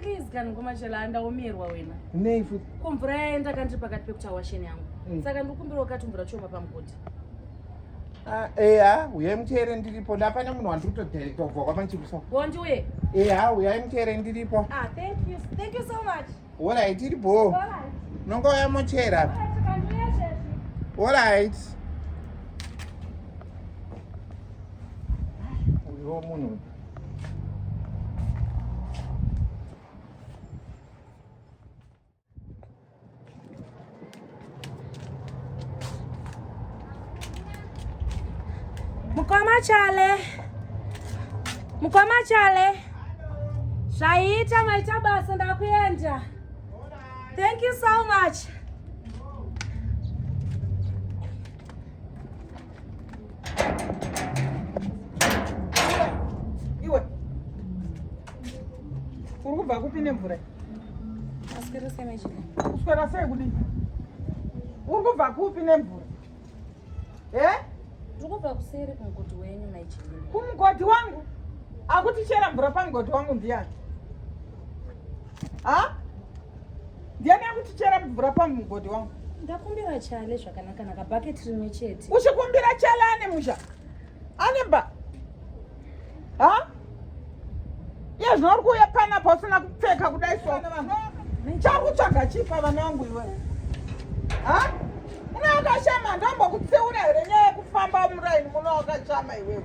Please kana ngoma chela andaomerwa wena. Nei futi? Ko mvura yaenda kandiri pakati pekuti awasheni yangu. Mm. Saka ndikumbira ukati mvura choma pamugoti. Ah, eya, uyai muteere ndiripo. Ndapana munhu wandiri kutodirect obva kwapa ndichikuso. Bondi uye. Eya, uyai muteere ndiripo. Ah, thank you. Thank you so much. Hola, itiri bo. Hola. Nongo ya mochera. Hola, right. Uyo munhu. Mkoma chale, mkoma chale, zvaita maita basa, ndakuenda. Thank you so much. Iwe. Uri kubva kupi nemvura? Aswera sei machine? Uswera sei kudii? Uri kubva kupi nemvura? Eh? Uri kubva kuseri kumugoti wenyu machine. Kumugoti wangu? Akuti chera mvura pamugoti wangu ndiyani? Ha? ndiani akutichera mvura pamugodhi wangu ndakumbira chale zvakanakanaka bhaketi rimwe chete uchikumbira chale ane musha ane mba ha iye zvino uri kuuya panapa usina kupfeka kudai so chakutsvaga chipa vana vangu iwe ha unaakashama ndombokutsiura here nyaya yekufamba muraini muno wakachama iwewe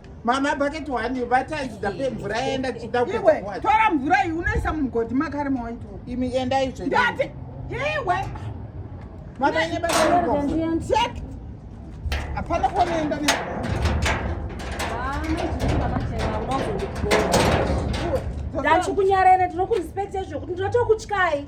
Mama bucket one vataidza pe mvura yaenda tichida kuiwe tora mvura iyi unoisa mumugodhi makare mawaito imi enda izvo ndati iwe mama ine bacheck hapana kuonoenda ne ndachikunyarere tinokurespect ezvokuti ndinotokutyai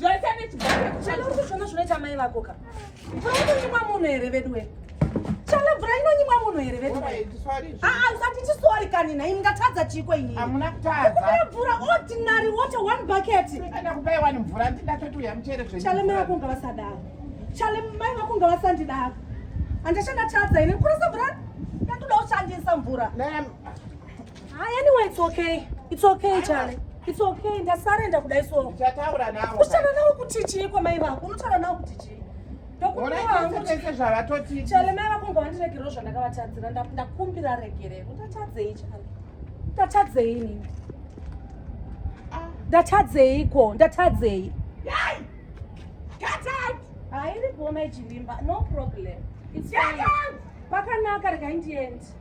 zvese nechibaakushanaurikuzvona zvinoita mai vako ka mvura inonyimwa munhu here veduwe chala mvura inonyimwa munhu here veduwe aa usati chisori kani nhai mungatadza chiiko iniiamunakutadza mvura ordinary water one bucket ndakupaiwani mvura ndindatoti muchere zve chale mai vako unga vasadaro chale mai vako unga vasandidaro handashandatadza ini kurisa mvura ndatoda kushandisa mvura Hi, anyway, it's okay. It's okay, Charlie. It's okay. Ndasarenda kudai so. Uchataura nawo. Uchataura nawo kuti chii kwa mai vako? Unotaura nawo kuti chii? Ndokuona hangu tese zvavatoti. Charlie, mai vako ngwandiregerewo zvandakavatadzira. Ndakumbira regerero. Ndatadzei, Charlie. Ndatadzei nini? Ah. Ndatadzei ko? Ndatadzei. Yai! Get out! Hairi goma ichivimba. No problem. It's fine. Pakanaka regai ndiende.